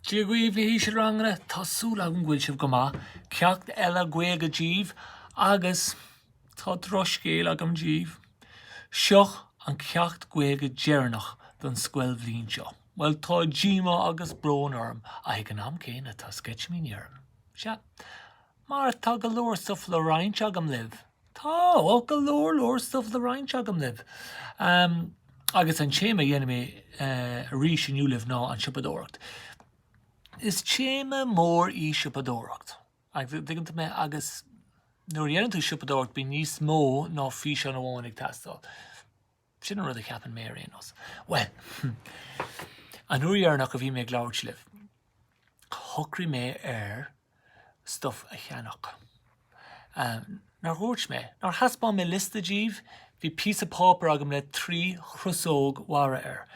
Dia dhaoibh a hísealranganna, tá súil agam go bhfuil sibh go maith. Ceacht eile Gaeilge díbh agus tá drochscéal agam díbh. Seo an ceacht Gaeilge deireanach don scoilbhliain seo. Bhuel, tá díomá agus brón orm ach ag an am céanna tá sceitimíní orm. Sea. Mar tá go leor stuff le roinnt agam libh. Tá, oh, go leor leor stuff le roinnt agam libh. Umm, agus an téama a dhéanfaidh mé arís inniu libh ná an tsiopadóireacht. Is téama mór í siopadóireacht. Agus dtuigeann sibh mé, agus nuair a dhéanann tú siopadóireacht bíonn níos mó ná físeán amháin ag teastáil. Sin an rud a cheapann mé ar aon nós. Bhuel, an uair dheireanach a bhí mé ag labhairt libh, shocraigh mé ar stuff a cheannach. Nár dhúirt mé, nár thaispeáin mé liosta díbh? Bhí píosa páipéir agam le trí chrosóg mhara air.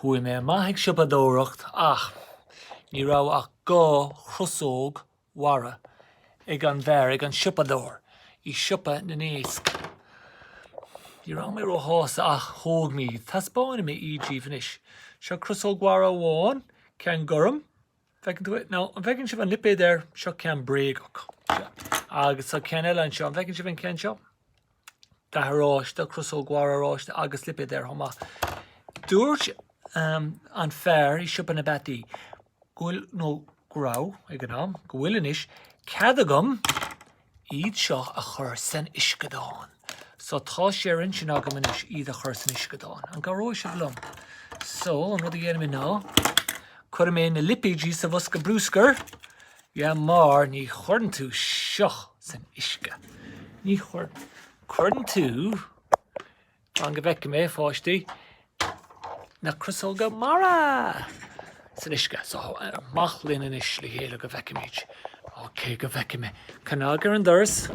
Chuaigh mé amach ag siopadóireacht ach ní raibh ach dhá chrosóg Mhara, ag an fhear, ag an siopadóir, i siopa na n-iasc. Ní raibh mé róshásta ach thóg mé iad. Taispeánfaidh mé iad díbh anois. Seo crosóg mhara amháin, ceann gorm. Bhfeiceann tú é? Now, an bhfeiceann sibh an lipéad air? Seo ceann bréagach. Agus tá ceann eile anseo. An bhfeiceann sibh an ceann seo? dath oráiste, crosóg mhara oráiste agus lipéad air chomh maith. Dúirt an fear i siopa na bpeataí go bhfuil nó go raibh ag an am go bhfuil anois cead agam iad seo a chur san uisceadán. So tá sé ar intinn agam anois iad a chur san uisceadán. An gcabhróidh sibh liom? So an rud a dhéanfaidh mé ná cuirfidh mé na lipéidí sa bhosca bruscair Yeah mar ní chuireann tú seo san uisce. Ní chuir, cuireann tú, fan go bhfeice mé a pháistí, na crosóga mara san uisce. So amach linn anois le chéile go bhfeicimid. Ok go bhfeice mé. Cnag ar an doras.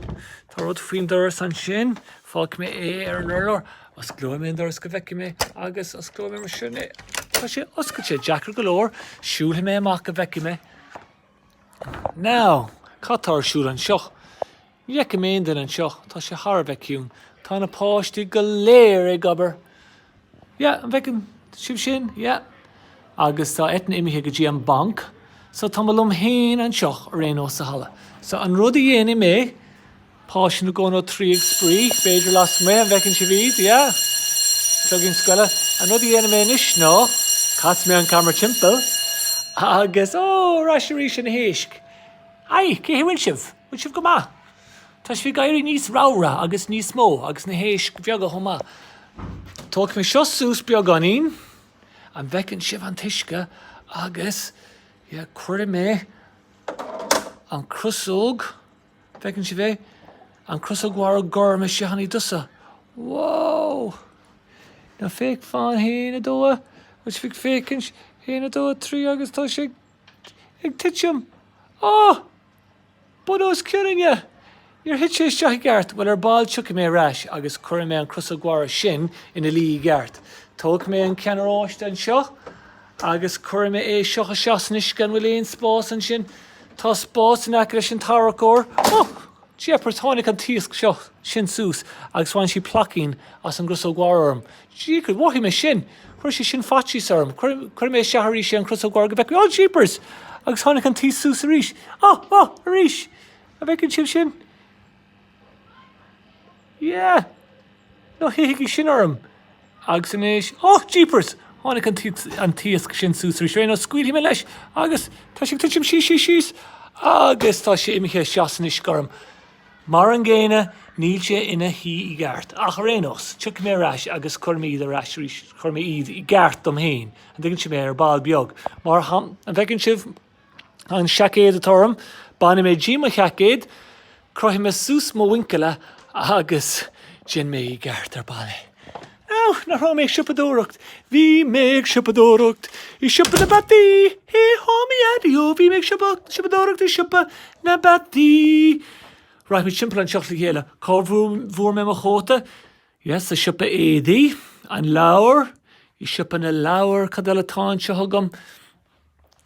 Tá rud faoin doras ansin. Fágfaidh mé é ar an urlár. Osclóidh mé an doras go bhfeice mé agus osclóidh mé mar sin é. Tá sé oscailte. Deacair go leor. Siúlfaidh mé amach go bhfeice mé. Now! Cad tá ar siúl anseo? Ní fheicim aon duine anseo, tá sé thar a bheith ciúin. Tá na páistí go léir ag obair. Yeah, an bhfeiceann sibh sin? Yeah. Agus tá Eithne imithe go dtí an banc. So tá mé liom féin anseo, ar aon nós sa halla. So an rud a dhéanfaidh mé, Páistí na gConnacht trí ag spraoi, b'fhéidir lasmuigh, an bhfeiceann sibh iad siúd? Yeah. Cloigín scoile. An rud a dhéanfaidh mé anois ná, casfaidh mé an camera timpeall agus, oh, ar ais arís ag na héisc. Haigh, cén chaoi a bhfuil sibh? Bhfuil sibh go maith? Tá sibh ag éirí níos ramhra agus níos mó agus na héisc bheaga chomh maith. Tógfaidh mé seo suas beagáinín. An bhfeiceann sibh an t-uisce agus, yeah, cuirfidh mé an crosóg. An bhfeiceann sibh í? An crosóg mhara gorm seachain tusa. Wow! An bhfeicfeá? A haon, a dó, an bhfuil sibh ag féachaint? A haon, a dó, a trí agus tá sé ag titim. Oh! Bunús ciorainne! Níor thit sé isteach ceart. Bhuel, ar ball tiocfaidh mé ar ais agus cuirfidh mé an crosóg mhara sin ina luí i gceart. Tógfaidh mé an ceann oráiste anseo Agus cuirfidh mé é seo isteach san uisce, an bhfuil aon spás ansin? Tá spás in aice leis an tarracóir. Ó! Jeepers, tháinig an t-iasc seo, sin suas agus bhain sí plaicín beag as an gcrosóg mhara gorm. Jeepers, mhothaigh mé sin! Chuir sé sin faitíos orm. Cuirfidh, cuirfidh mé isteach arís é an crosóg mhara go bhfeicfidh mé. Ó! Jeepers! Agus tháinig an t-iasc suas arís. Ó! Ó! Arís! An bhfeiceann sibh sin? Yeah! Ná hithigí sin orm! Agus anois, oh jeepers! Tháinig an t-iasc sin suas arís. Ar aon nós, scaoilfidh mé leis agus tá sé ag titim síos, síos, síos agus tá sé imithe isteach san uisce orm. Mar an gcéanna, níl sé ina shuí i gceart. Ach ar aon nós, tiocfaidh mé ar ais agus cuirfidh mé iad ar ais arís, cuirfidh mé iad i gceart dom féin, an dtuigeann sibh mé, ar ball beag, mar an bhfeiceann sibh. An seaicéad atá orm, bainfidh mé díom mo sheaicéad, crochfaidh mé suas mo mhuinchillí agus déanfaidh mé i gceart ar ball é. Á, nach raibh mé ag siopadóireacht? Bhí mé ag siopadóireacht i siopa na bpeataí! Hé há mo Dhaideo, bhí mé ag siopadóireacht i siopa na bpeataí! Right, rachaimid timpeall an tseomra le chéile, cá bhfuair mé mo chóta? Yes, sa siopa éadaí, an leabhar, i siopa na leabhar, cad eile atá anseo agam?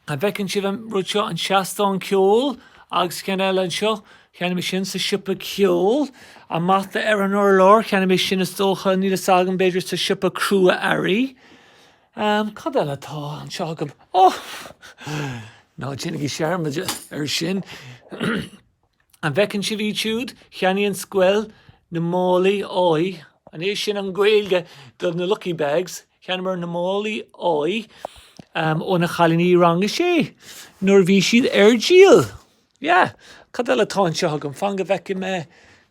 An bhfeiceann sibh an rud seo, an seastán ceoil agus ceann eile anseo, cheannaigh mé sin sa siopa ceoil. An mata ar an urlár, cheannaigh mé sin is dócha, níl fhios agam, b'fhéidir sa siopa crua-earraí. Um, cad eile atá anseo agam? Oh! Ná déanaigí dearmad ar sin. An bhfeiceann sibh iad siúd? Cheannaigh an scoil na málaí áidh. An é sin an Ghaeilge do na lucky bags? Cheannaíomar na málaí áidh ó na cailíní rang a sé nuair a bhí siad á ndíol. Yeah. Cad eile atá anseo agam? Fan go bhfeicfidh mé.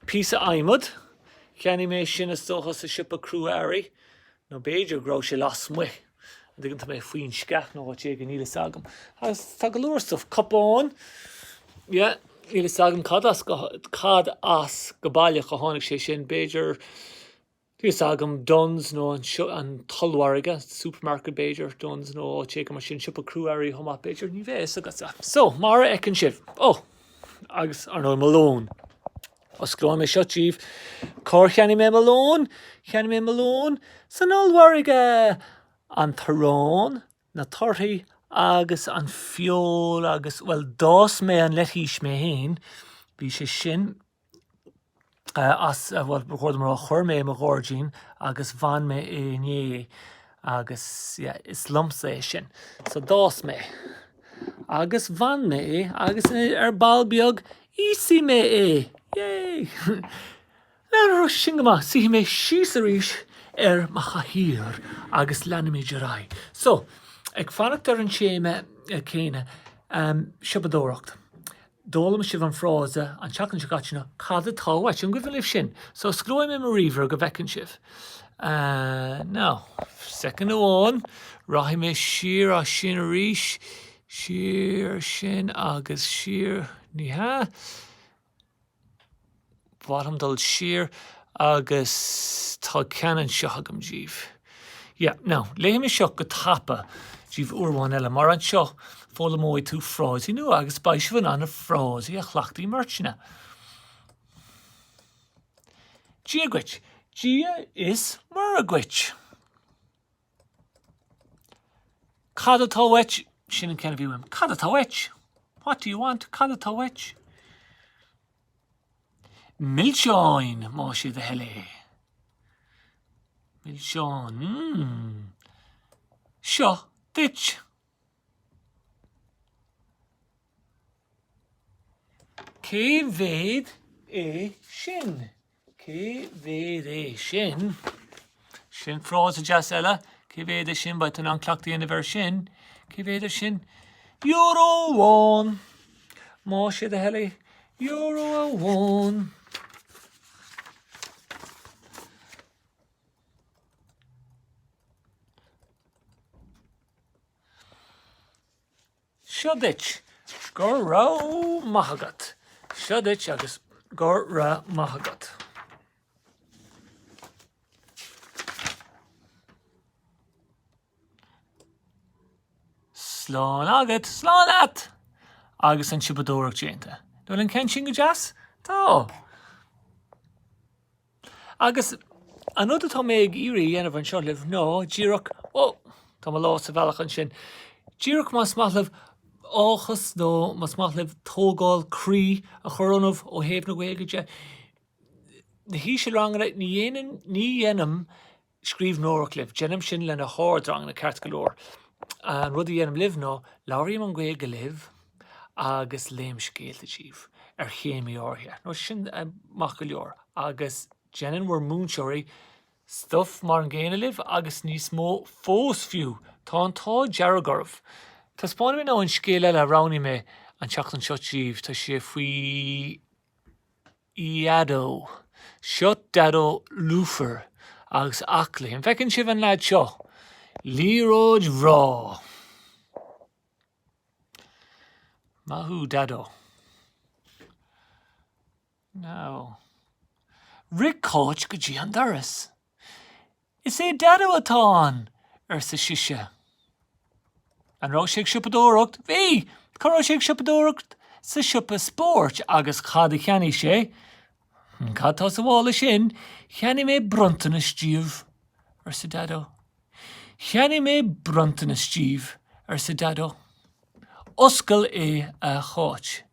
Píosa adhmaid. Cheannaigh mé sin is dócha sa siopa crua-earraí. Nó b'fhéidir go raibh sé lasmuigh. D'fhág tú mé faoin sceach nó áit éigin níl fhios agam. Agus tá go leor stuff. Cupán. Yeah, níl fhios agam cad as go baileach a tháinig sé sin. B'fhéidir, níl fhios agam, Dunnes nó an t-ollmhargadh, supermarket b'fhéidir, Dunnes nó áit éigin mar sin, siopa crua-earraí chomh maith b'fhéidir, ní bheidh fhios agat. So, mar a fheiceann sibh. Oh! Agus, ar ndóigh, mo lón. Osclóidh mé seo díbh. Cár cheannaigh mé mo lón? Cheannaigh mé mo lón san ollmhargadh! An t-arán, na torthaí agus an feoil agus, bhuel, d'fhás mé an leitís mé féin. Bhí sé sin as, bhuel, chuir mé, mar chuir mé i mo ghairdín agus bhain mé é inné agus, yeah, is liomsa é sin. So d'fhás mé. agus bhain mé é agus ar ball beag íosfaidh mé é! Yay! Now, sin go maith suífidh mé síos arís ar mo chathaoir agus leanfaimid ar aghaidh. So, ag fanacht ar an téama céanna, siopadóireacht. D'fhoghlaim sibh an frása an tseachtain seo caite ná cad atá uait? An gcuimhin libh sin? So osclóidh mé mo ríomhaire go bhfeiceann sibh. Now, soicind amháin, rachaidh mé siar as sin arís, siar as sin agus siar, ní hea, ba mhaith liom dul siar agus tá ceann anseo agam díobh. Yeah, now, léifidh mé seo go tapa díobh uair amháin eile, mar anseo foghlaimeoidh tú frásaí nua agus beidh sibh in ann na frásaí a chleachtadh i mbeirteanna. Dia dhuit, Dia is Muire dhuit. Cad atá uait? Sin an ceann a bhí uaim. Cad atá uait? What do you want? Cad atá uait? Milseáin, más é do thoil é. Milseáin. Mm. Seo duit. Cé mhéad é sin? Cé mhéad é sin? Sin frása deas eile. Cé mhéad é sin? Beidh tú in ann cleachtadh a dhéanamh air sin. Cé mhéad é sin? Euro amháin. Má sé do thoil é, euro amháin. Seo duit. Go raibh maith agat. Seo duit agus go raibh maith agat. Slán agat, slán leat! Agus an siopadóireacht déanta. Now, an bhfuil an ceann sin go deas? Tá. Agus an rud atá mé ag iarraidh a dhéanamh anseo libh ná díreach, ó, tá mo lámh sa bhealach ansin, díreach más maith liom áthas nó más maith liom tógáil croí a chur ionaibh ó thaobh na Gaeilge de, na hísealranganna, ní dhéanann, ní dhéanaim, scríbhneoireacht libh. Déanaim sin leis na hardranganna ceart go leor. An rud a dhéanaim libh ná labhraím an Ghaeilge libh agus léim scéalta díbh ar théamaí áirithe. Now sin maith go leor agus déanann bhur múinteoirí stuff mar an gcéanna libh agus níos mó fós fiú. Tá an t-ádh dearg oraibh. Taispeánfaidh mé now an scéal eile a roghnaigh mé an tseachtain seo díbh. Tá sé faoi. Dhaideo. Seo Daideo lúfar agus aclaí. An bhfeiceann sibh an leaid seo? Liathróid bhreá! Maith thú Daideo. Now. Rith Cáit go dtí an doras. Is é Daideo atá ann! arsa sise. An raibh sé ag siopadóireacht? Bhí! Cá raibh sé ag siopadóireacht? Sa siopa spóirt. Agus cad a cheannaigh sé? Cad tá sa mhála sin? Cheannaigh mé bronntanas díbh, arsa Daideo. Cheannaigh mé bronntanas díbh, arsa Daideo. Oscail é, a Cháit.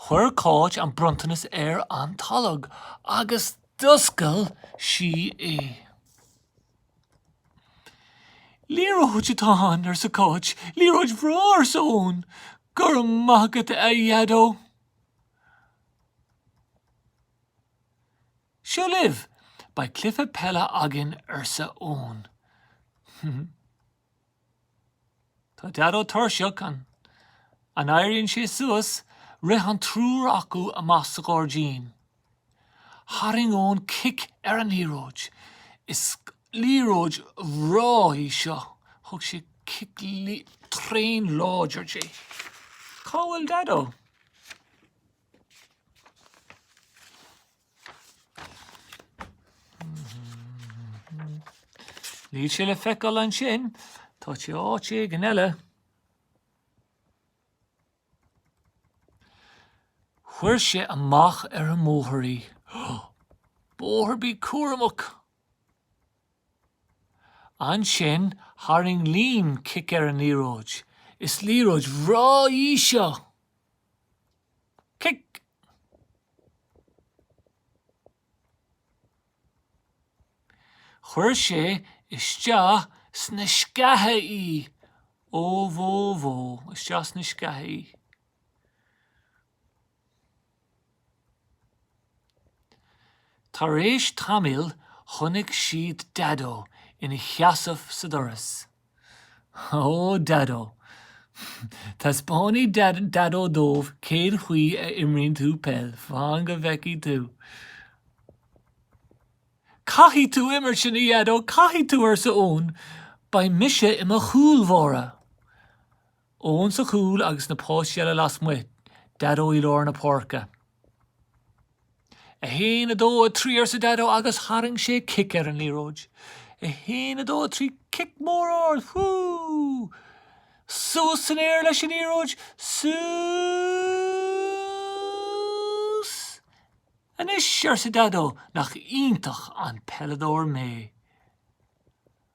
Chuir Cáit an bronntanas ar an tolg agus d'oscail sí é. Liathróid atá ann, arsa Cáit. Liathróid bhreá, arsa Eoin. Go raibh maith agat a Dhaideo. Seo libh. Beidh cluiche peile againn, arsa Eoin. Tá Daideo tuirseach. An n-éiríonn sé suas? Rith an triúr acu amach sa ghairdín. Tharraing Eoin cic ar an liathróid. Is liathróid bhreá í seo. Thug sé cic tréan láidir di. Cá bhfuil Daideo? Níl sé le feiceáil ansin, tá sé áit éigin eile. Chuir sé amach ar an mbóthar í. Bóthar bí cúramach! Ansin tharraing Liam cic ar an liathróid. Is liathróid bhreá í seo! Cic. Chuir sé isteach sna sceacha í. Ó bhó bhó, isteach sna sceacha í. Tar éis tamaill chonaic siad Daideo ina sheasamh sa doras. Ó, Daideo. Taispeánfaidh Daideo dóibh cén chaoi a imríonn tú peil, fan go bhfeicfidh tú. Caithfidh tú imirt linn, a Dhaideo, caithfidh tú, arsa Eoin. Beidh mise i mo chúl bháire. Eoin sa chúl agus na páistí eile lasmuigh Daideo i lár na páirce. 1, 2, 3 arsa Daideo agus tharraing sé cic ar an liathróid. 1, 2, 3 Cic mór ard! Whoo! Suas san aer leis an liathróid! Suas! Anois arsa Daideo nach iontach an peileadóir mé!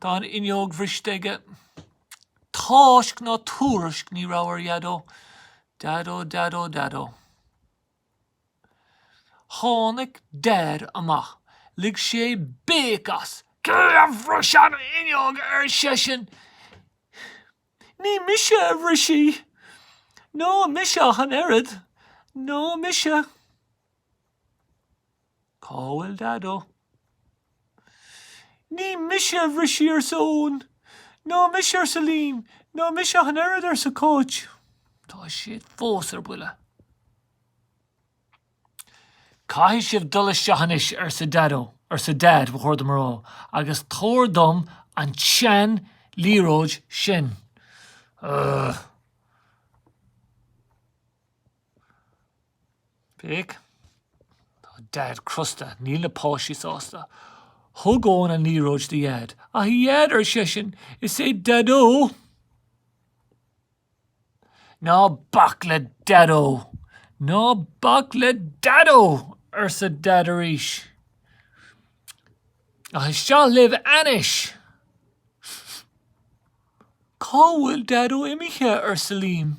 Tá an fhuinneog briste aige. Tásc ná tuairisc ní raibh ar Dheaideo. Deaideo, Deaideo, Deaideo. Tháinig Deaid amach. Lig sé béic as. Cé a bhris an fhuinneog? ar seisean. Ní mise a bhris í. Ná mise ach an oiread. Ná mise. Cá bhfuil Daideo? Ní mise a bhris í arsa Eoin. Ná mise arsa Liam. Ná mise ach an oiread arsa Cáit. Tá siad fós ar buile. Caithfidh sibh dul isteach anois arsa Daideo, arsa Deaid, ba chóir dom a rá, agus tabhair dom an tseanliathróid sin. Ugh. Féach, Tá Deaid crosta, níl na páistí sásta. Thug Eoin an liathróid do Dheaid. A Dheaid, ar seisean, is é Daideo! Ná bac le Daideo! Ná bac le Daideo! arsa Deaid arís. Ach isteach libh anois! Cá bhfuil Daideo imithe? arsa Liam.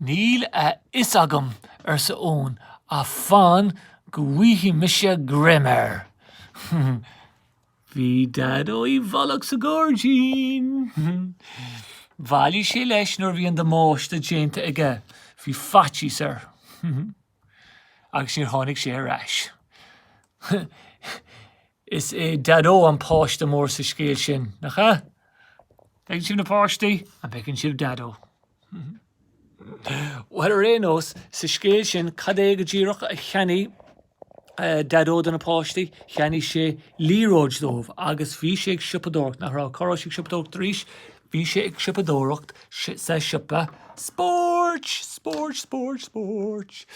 Níl a fhios agam, arsa Eoin, ach fan go bhfaighidh mise greim air. Bhí Daideo i bhfolach sa ghairdín. Bhailigh sé leis nuair a bhí an damáiste déanta aige. Bhí faitíos air agus níor tháinig sé ar ais. Is é Daideo an páiste mór sa scéal sin, nach ea? Feiceann sibh na páistí, an bhfeiceann sibh Daideo? Bhuel, ar aon nós, sa scéal sin, cad é go díreach a cheannaigh Daideo do na páistí? Cheannaigh sé liathróid dóibh agus bhí sé ag siopadóireacht, nach raibh? Cá raibh sé ag siopadóireacht arís? Bhí sé ag siopadóireacht sa siopa spóirt! Spóirt, spóirt, spóirt.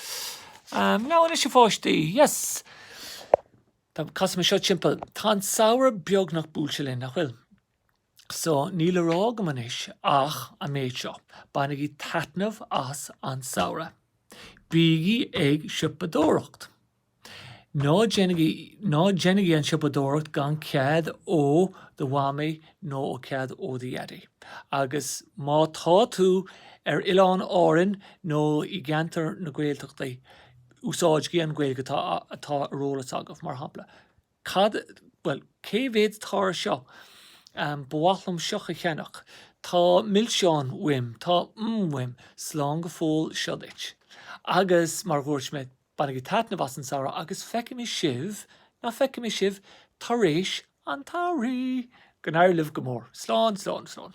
Now anois, a pháistí? Yes! Tá casfaidh mé seo timpeall. Tá an samhradh beagnach buailte linn, nach bhfuil? So, níl le rá agam anois ach an méid seo, bainigí taitneamh as an samhradh. Bígí ag siopadóireacht. Ná déanaigí, ná déanaigí an siopadóireacht gan cead ó do mhamaí nó ó cead ó do dhaidí. Agus má tá tú ar Oileán Árainn nó i gceantar na Gaeltachtaí, Úsáidigí an Ghaeilge atá ar eolas agaibh, mar shampla, cad, bhuel, cé mhéad atá air seo? Ba mhaith liom seo a cheannach. Tá milseáin uaim. Tá mm uaim. Slán go fóill seo duit. Agus, mar a dhúirt mé, bainigí taitneamh as an samhradh agus feicimid sibh, ná feicimid sibh, tar éis an tsamhraidh! Go n-éirí libh go mór. Slán, slán, slán.